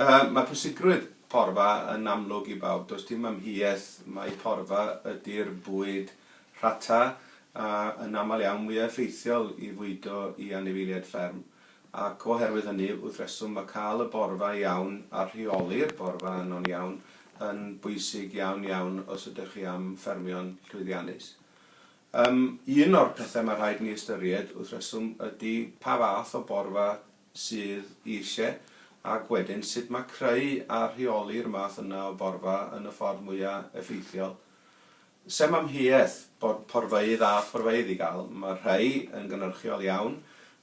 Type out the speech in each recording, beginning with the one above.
Yy, mae pwysigrwydd porfa yn amlwg i bawb, does dim amheuaeth mai porfa ydi'r bwyd rhata a yn aml iawn mwya' effeithiol i fwydo i anifeiliaid fferm, ac oherwydd hynny wrth reswm mae cael y borfa iawn a rheoli'r borfa yno'n iawn yn bwysig iawn iawn os ydych chi am ffermio'n llwyddiannus. Yym, un o'r pethau mae rhaid ni ystyried wrth reswm ydi pa fath o borfa sydd eisiau, ac wedyn sut mae creu a rheoli'r math yna o borfa yn y ffordd mwya' effeithiol. Sem amheuaeth bod porfeydd a phorfeydd i gael, mae rhai yn gynhyrchiol iawn,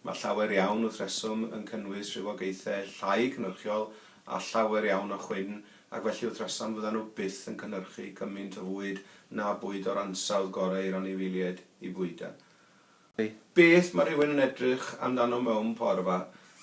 mae llawer iawn wrth reswm yn cynnwys rhywogaethau llai cynhyrchiol a llawer iawn o chwyn, ac felly wrth reswm fyddan nhw byth yn cynhyrchu cymaint o fwyd na bwyd o'r ansawdd gorau i'r anifeiliaid i fwydo. Cymru. Beth mae rhywun yn edrych amdano mewn porfa?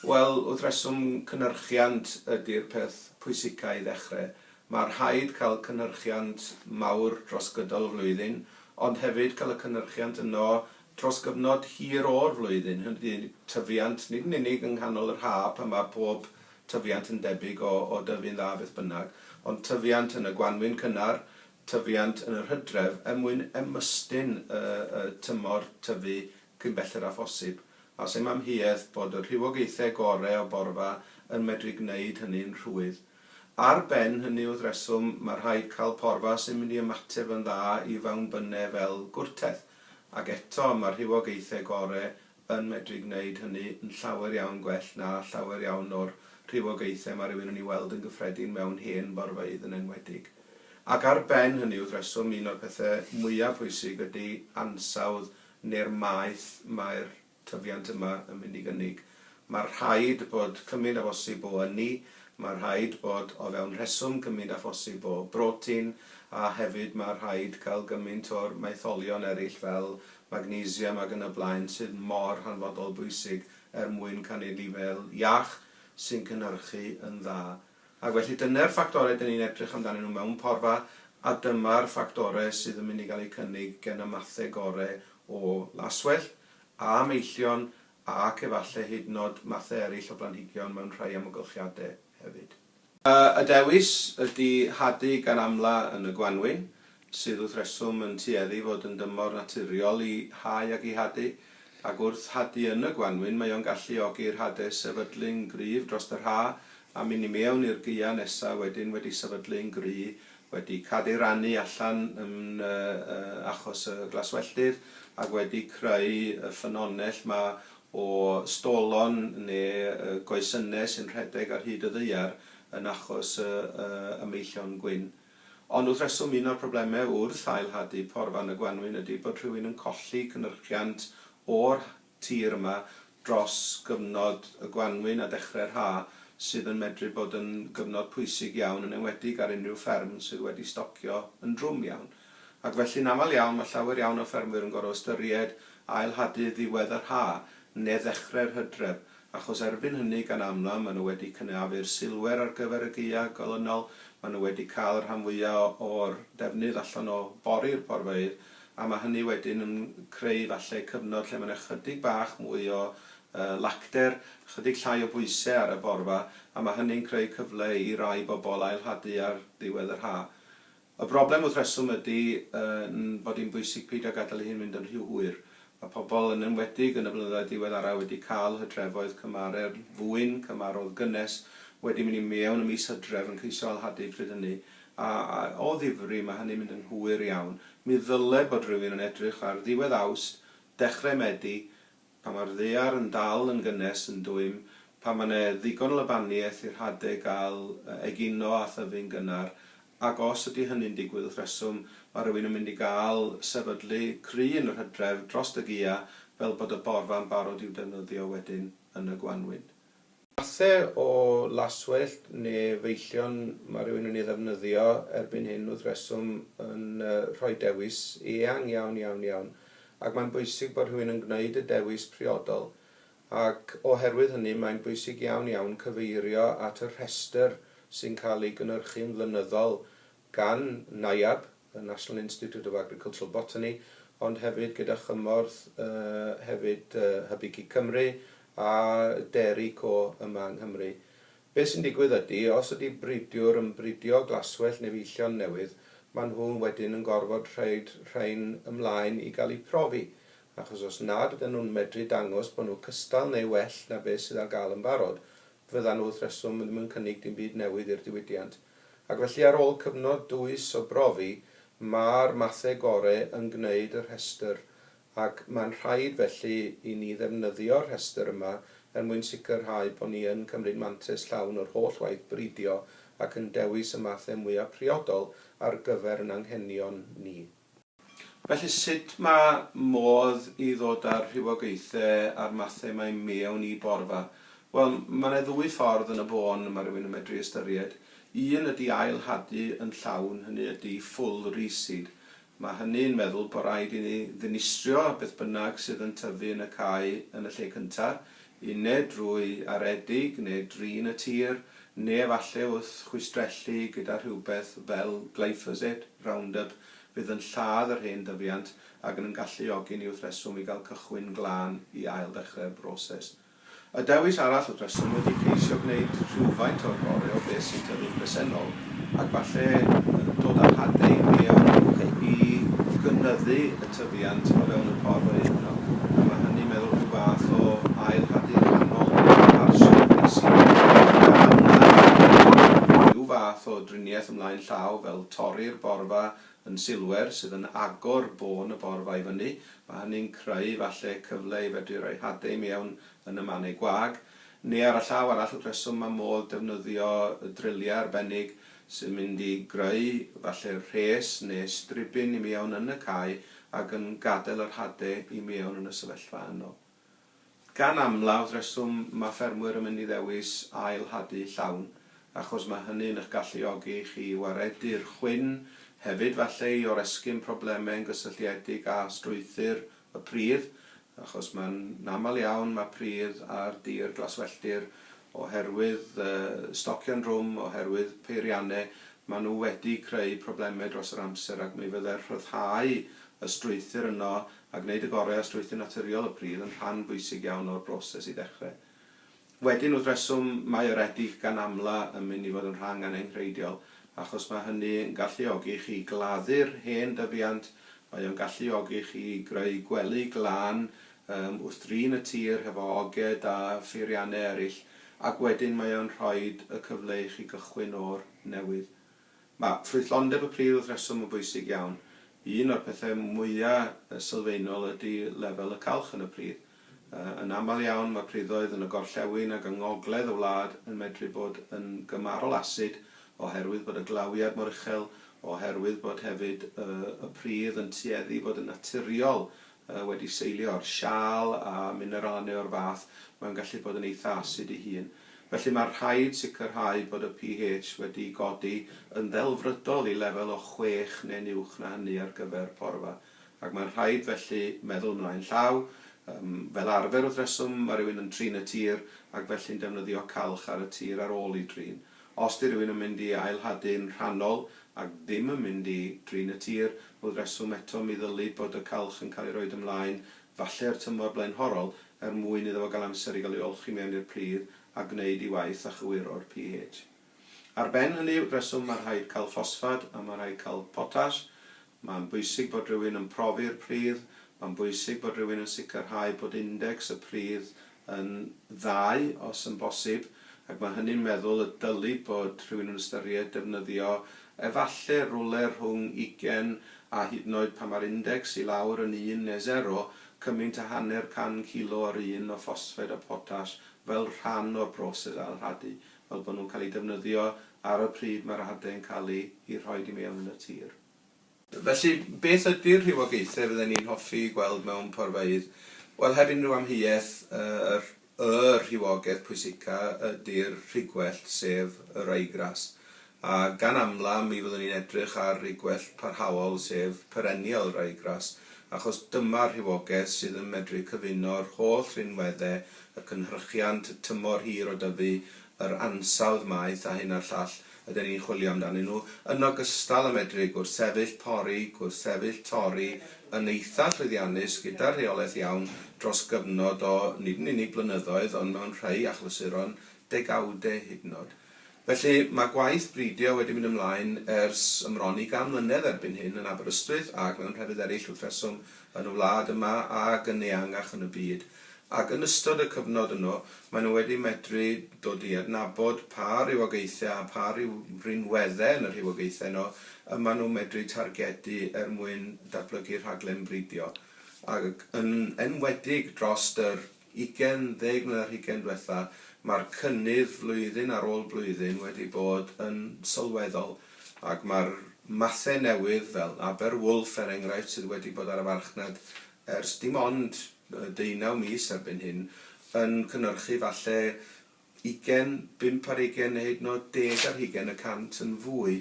Wel, wrth reswm, cynhyrchiant ydi'r peth pwysica i ddechre. Mae rhaid cael cynhyrchiant mawr dros gydol y flwyddyn, ond hefyd cael y cynhyrchiant yno dros gyfnod hir o'r flwyddyn, hynny ydi, tyfiant, nid yn unig yng nghanol yr ha pan mae pob tyfiant yn debyg o dyfu'n dda beth bynnag, ond tyfiant yn y gwanwyn cynnar, tyfiant yn yr hydref er mwyn ymestyn y tymor tyfu cyn belled â phosib, a sem amheuaeth bod y rhywogaethau gorau o borfa yn medru gwneud hynny'n rhwydd. Ar ben hynny yw'r rheswm mae rhaid cael porfa sy'n mynd i ymateb yn dda i fawnbynnau fel gwrtaith, ac eto mae'r rhywogaethau gorau yn medru gwneud hynny yn llawer iawn gwell na llawer iawn o'r rhywogaethau mae rhywun yn ei weld yn gyffredin mewn hen forfeydd yn enwedig. Ac ar ben hynny, wrth reswm, un o'r pethau mwyaf pwysig ydy ansawdd neu'r maeth mae'r tyfiant yma yn mynd i gynnig. Mae rhaid bod cymaint â phosib o ynni, mae rhaid bod o fewn rheswm gymaint â phosib o brotein, a hefyd mae rhaid cael gymaint o'r maetholion eraill fel magnesium ac yn y blaen sydd mor hanfodol bwysig er mwyn cynnig lifel iach sy'n cynhyrchu yn dda. Ac felly dyne'r ffactorau dyn ni'n edrych amdanyn nhw mewn porfa a dyma'r ffactorau sydd yn mynd i gael eu cynnig gen y mathau gorau o laswellt a meillion ac efallai hyd yn oed mathau eraill o blanhigion mewn rhai amgylchiadau hefyd. Y dewis ydi hadu gan amla yn y gwanwyn, sydd wrth reswm yn tueddu fod yn dymor naturiol i hau ac i hadu, ac wrth hadu yn y gwanwyn mae o'n galluogi'r hade sefydlu'n gryf drost yr ha, a myn' i mewn i'r gaea nesa wedyn wedi sefydlu'n gry, wedi cadeiranu allan yn achos y glaswelltir, ac wedi creu y ffynonell 'ma o stolon neu goesynnau sy'n rhedeg ar hyd y ddaear yn achos y y meillion gwyn. Ond wrth reswm un o'r problemau wrth ail-hadu porfa yn y gwanwyn ydy bod rhywun yn colli cynyrchiant o'r tir yma dros gyfnod y gwanwyn a dechrau'r haf sydd yn medru bod yn gyfnod pwysig iawn yn enwedig ar unrhyw fferm sydd wedi stocio yn drwm iawn. Ac felly'n aml iawn mae llawer iawn o ffermwyr yn gorfod ystyried ail hadu ddiwedd yr ha ne ddechrau'r hydref, achos erbyn hynny gan amla mae nhw wedi cynaeafu'r silwer ar gyfer y gaea golynol, mae nhw wedi cael y rhan fwya o'r defnydd allan o bori'r porfeydd, a mae hynny wedyn yn creu falle cyfnod lle mae yna chydig bach mwy o lacder, chydig llai o bwyse ar y borfa, a mae hynny'n creu cyfle i rai bobl ail hadu ar ddiwedd yr ha. Y broblem wrth reswm ydy yn fod hi'n bwysig peidio gadael i hyn fynd yn rhy hwyr. Mae pobl, yn enwedig yn y blynyddoedd diweddaraf, wedi cael hydrefoedd cymharedd, fwyn, cymarodd gynnes, wedi mynd i mewn ym mis Hydref yn ceisio ailhadu pryd hynny, a, a, o ddifri, mae hynny'n mynd yn hwyr iawn. Mi ddyle bod rhywun yn edrych ar ddiwedd Awst, dechrau Medi, Pan mae'r ddaear yn dal yn gynnes yn dwym, pan mae 'na ddigon o lybaniaeth i'r hade gael egino a thyfu'n gynnar, ac os ydy hynny'n digwydd wrth reswm, mae rhywun yn mynd i gael sefydlu cry yn yr hydref drost y gia fel bod y borfa'n barod i'w defnyddio wedyn yn y gwanwyn. Mathe o laswellt neu feillion mae rhywun yn ei ddefnyddio erbyn hyn wrth reswm yn rhoi dewis eang iawn, iawn, iawn, ac mae'n bwysig bod rhywun yn gwneud y dewis priodol, ac oherwydd hynny mae'n bwysig iawn, iawn cyfeirio at y rhestr sy'n cael ei gynhyrchu'n flynyddol gan NIAB, y National Institute of Agricultural Botany, ond hefyd gyda chymorth hefyd Hybygig Cymru a Dairy Co yma yng Nghymru. Beth sy'n digwydd ydy, os ydy bridiwr yn bridio glaswellt neu feichion newydd, maen nhw wedyn yn gorfod rhoid rhain ymlaen i gael eu profi, achos os nad ydyn nhw'n medru dangos bod nhw cystal neu well na beth sydd ar gael yn barod, fyddan wrth reswm ddim yn cynnig dim byd newydd i'r diwydiant, ac felly ar ôl cyfnod dwys o brofi, ma'r mathe gore yn gneud y rhestr, ac ma'n rhaid felly i ni ddefnyddio'r rhestr yma er mwyn sicrhau bo ni yn cymryd mantais llawn o'r holl waith bridio ac yn dewis y mathe mwya priodol ar gyfer 'n anghenion ni. Felly sut mae modd i ddod â'r rhywogaethau a'r mathau mae mewn i borfa? Wel, mae yna ddwy ffordd yn y bôn y mae rhywun yn medru ystyried. Un ydy ail hadu yn llawn, hynny ydy full reseed. Mae hynny yn meddwl bod rhaid i ni ddinistrio beth bynnag sydd yn tyfu yn y cae yn y lle cyntaf, Une drwy aredig neu drin y tir, neu efallai wrth chwistrellu gyda rhywbeth fel glyphosate, Roundup, fydd yn lladd yr hen dyfiant ac yn yn galluogi ni wrth reswm i gael cychwyn glân i ailddechrau'r broses. Y dewis arall wrth reswm wedi ceisio gwneud rhywfaint o'r gorau o beth sy'n tyfu'n bresennol, ac falle dod â hadau gwead i gynyddu y tyfiant o fewn y porth o hyd yno, a mae hynny'n meddwl rhyw fath o ail hadu rhannol ar sir Greasy, a hwnna yn golygu rhyw fath o driniaeth ymlaen llaw fel torri'r borfa yn silwer sydd yn agor bôn y borfa i fyny, mae hynny'n creu falle cyfle i fedru rhoi hadau mewn yn y mannau gwag, Neu ar y llaw arall, y rheswm mae modd defnyddio y drylliau arbennig sy'n mynd i greu falle rhes neu stribyn i mewn yn y cae ac yn gadael yr hade i mewn yn y sefyllfa yno. Gan amlaf, rheswm mae ffermwyr yn mynd i ddewis ail hadu llawn achos mae hynny'n eich galluogi chi i waredu'r chwyn, hefyd falle i oresgyn problemau yn gysylltiedig â strwythur Y pridd, achos mae'n aml iawn mae pridd ar dir glaswelltir oherwydd stocio'n drwm, oherwydd peiriannau, maen nhw wedi creu problemau dros yr amser ac mi fyddai'r rhyddhau y strwythur yno a gwneud y gorau o strwythur naturiol y pridd yn rhan bwysig iawn o'r broses i ddechrau. Wedyn, wrth reswm, mae yr edych gan amla yn mynd i fod yn rhang anenghreidiol, achos mae hynny yn galluogi chi gladdu'r hen dyfiant, mae o'n galluogi chi greu gwely glân yym wrth drin y tir hefo oged a pheiriannau eraill, ac wedyn mae o'n rhoid y cyfle i chi gychwyn o'r newydd. Mae ffrwythlondeb y pridd wrth reswm yn bwysig iawn. Un o'r pethau mwya sylfaenol ydy lefel y calch yn y pridd. Yn aml iawn mae priddoedd yn y gorllewin ac yng ngogledd y wlad yn medru bod yn gymharol asid oherwydd bod y glawiad mor uchel, oherwydd bod hefyd y pridd yn tueddu i fod yn naturiol wedi seilio ar siâl a mineralen neu o'r fath, mae'n gallu bod yn eitha' asid ei hun. Felly mae'n rhaid sicrhau bod y pH wedi godi yn ddelfrydol i lefel o chwech neu'n uwch na hynny ar gyfer porfa, ac mae'n rhaid felly meddwl ymlaen llaw. Yym, fel arfer wrth reswm, mae rhywun yn trin y tir ac felly'n defnyddio calch ar y tir ar ôl ei drin. Os 'di rhywun yn mynd i ailhadu'n rhannol ac ddim yn mynd i drin y tir, wrth reswm eto mi ddylid bod y calch yn cael ei roid ymlaen, falle i'r tymor blaenhorol, er mwyn iddo fo gael amser i gael ei olchi mewn i'r pridd a gwneud ei waith a chywiro'r pH. Ar ben hynny, wrth reswm ma' rhaid cael ffosffad a ma' rhaid cael potash, Mae'n bwysig bod rhywun yn profi'r pridd, mae'n bwysig bod rhywun yn sicrhau bod indecs y pridd yn ddau os yn bosib, ac mae hynny'n meddwl y dylid bod rhywun yn ystyried defnyddio efallai rywle rhwng ugain a hyd yn oed pan mae'r indecs i lawr yn un neu sero, cymaint â hanner can cilo o'r un o ffosffeid a potas fel rhan o'r broses ailrhadu fel bod nhw'n cael eu defnyddio ar y pryd mae'r hadau yn cael eu eu rhoid i mewn yn y tir. Felly, beth ydy'r rhywogaethau fydden ni'n hoffi gweld mewn porfeydd? Wel, heb unrhyw amheuaeth, yr y rhywogaeth pwysica ydy'r rhigwellt, sef yr aigras. A gan amla, mi fyddwn ni'n edrych ar ei gwellt parhaol, sef perennial ryegrass, achos dyma'r rhywogaeth sydd yn medru cyfuno'r holl rinweddau, y cynhyrchiant, y tymor hir o dyfu, yr ansawdd maeth a hyn a'r llall ydan ni'n chwilio amdanyn nhw, yn ogystal â medru gwrthsefyll pori, gwrthsefyll torri yn eitha' llwyddiannus gyda rheolaeth iawn dros gyfnod o nid yn unig blynyddoedd ond mewn rhai achlysuron degawdau hyd yn oed. Felly, mae gwaith bridio wedi mynd ymlaen ers ymron i gan mlynedd erbyn hyn yn Aberystwyth ac mewn llefydd eraill wrth reswm yn y wlad yma ac yn eangach yn y byd, ac yn ystod y cyfnod yno, maen nhw wedi medru dod i adnabod pa rywogaethau a pha rinweddau yn y rhywogaethau yno y maen nhw'n medru targedu er mwyn datblygu rhaglen bridio, ac yn enwedig dros yr. 20 mlynedd ar hugain dwetha, mae'r cynnydd flwyddyn ar ôl blwyddyn wedi bod yn sylweddol ac mae'r mathau newydd fel Aber Wulff er enghraifft sydd wedi bod ar y farchnad ers dim ond deunaw mis erbyn hyn yn cynyrchu falle ugain, bump ar hugain neu hyd yn oed deg ar hugain y cant yn fwy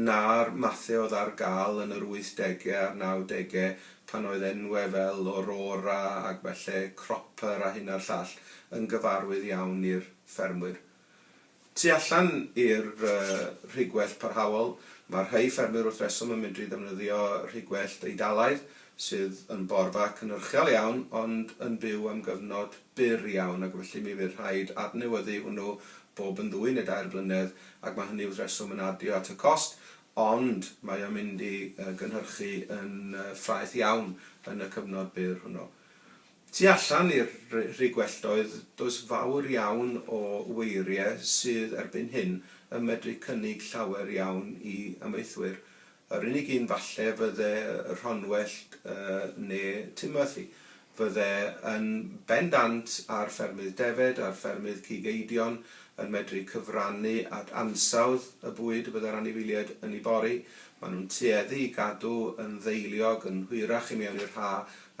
na'r mathau oedd ar gael yn yr wythdegau a'r nawdegau pan oedd enwau fel Aurora ac felly Cropper a hyn a'r llall yn gyfarwydd iawn i'r ffermwyr tu allan i'r rhigwellt parhaol. Mae rhai ffermwyr wrth reswm yn medru defnyddio rhigwellt Eidalaidd sydd yn borfa cynhyrchiol iawn ond yn byw am gyfnod byr iawn ac felly mi fydd rhaid adnewyddu hwnnw bob yn ddwy neu dair blynedd ac mae hynny wrth reswm yn adio at y cost ond mae o'n mynd i gynhyrchu yn ffraeth iawn yn y cyfnod byr hwnnw. Tu allan i'r Rhug Welldoedd does fawr iawn o weiriau sydd erbyn hyn yn medru cynnig llawer iawn i amaethwyr Yr unig un falle fydde Rhonwellt ne Timothy. Fydde yn bendant ar ffermydd defed, ar ffermydd cig eidion, yn medru cyfrannu at ansawdd y bwyd y bydde'r anifeiliaid yn ei bori. Mae nhw'n tueddu i gadw yn ddeiliog yn hwyrach i mewn i'r ha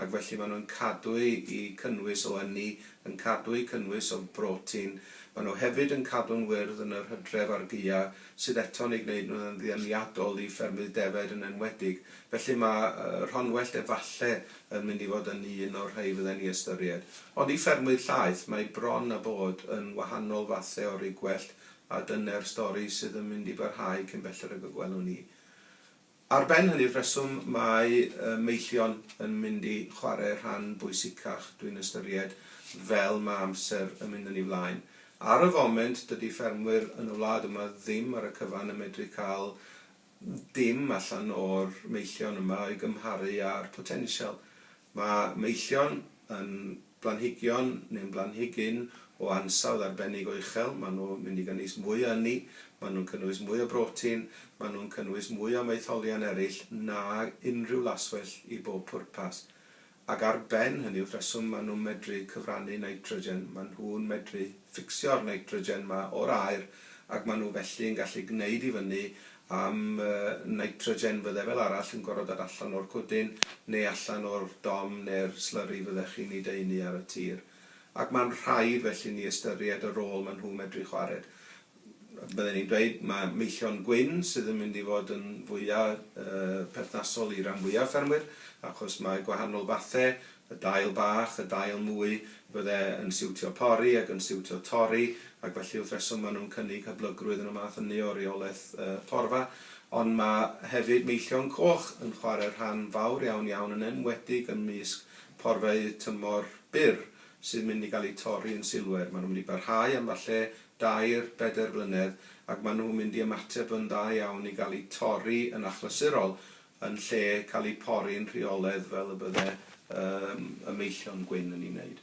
ac felly mae nhw'n cadwy i cynnwys o ynni, yn cadwy cynnwys o brotin. Mae nhw hefyd yn cadw'n wyrdd yn yr hydref a'r gaea. sydd eto'n eu gwneud nhw'n ddianiadol i ffermydd defaid yn enwedig. Felly mae Rhonwellt efallai yn mynd i fod yn un o'r rhai fydden ni ystyried. Ond i ffermwydd llaeth, mae bron a bod yn wahanol fathau o rugwellt a dyne'r stori sydd yn mynd i barhau cyn belled ag y gwelwn ni. Ar ben hynny'r rheswm mae Meillion yn mynd i chwarae rhan bwysicach dwi'n ystyried fel mae amser yn mynd yn ei flaen. Ar y foment dydy ffermwyr yn y wlad yma ddim ar y cyfan yn medru cael dim allan o'r Meillion yma i gymharu â'r potensial Mae meillion yn blanhigion neu'n blanhigyn o ansawdd arbennig o uchel, maen nhw'n mynd i gynnwys mwy o ynni, maen nhw'n cynnwys mwy o brotein, maen nhw'n cynnwys mwy o maetholion eraill nag unrhyw laswellt i bob pwrpas. Ac ar ben hynny, wrth reswm, maen nhw'n medru cyfrannu nitrogen, maen nhw'n medru ffficsio'r nitrogen 'ma o'r aer ac maen nhw felly'n gallu gwneud i fyny am nitrogen fydde fel arall yn gorfod dod allan o'r cwdyn neu allan o'r dom neu'r slurry fyddech chi'n ei daenu ar y tir. Ac mae'n rhaid felly ni ystyried y rôl maen nhw'n medru chwarae. Bydden i'n dweud mae meillion gwyn sydd yn mynd i fod yn fwya' perthnasol i ran fwya' ffermwyr achos mae gwahanol fathau Y dail bach, y dail mwy, fydde yn siwtio pori ac yn siwtio torri, ac felly wrth reswm maen nhw'n cynnig hyblygrwydd yn y math ynni o reolaeth porfa. Ond mae hefyd meillion coch yn chwarae rhan fawr iawn iawn, yn enwedig ymysg porfau tymor byr sydd mynd i gael eu torri yn silwer. Maen nhw'n mynd i barhau am falle dair, bedair blynedd, ac maen nhw'n mynd i ymateb yn dda iawn i gael eu torri yn achlysurol yn lle cael eu pori'n rheolaidd fel y bydde yym y meillion gwyn yn ei wneud.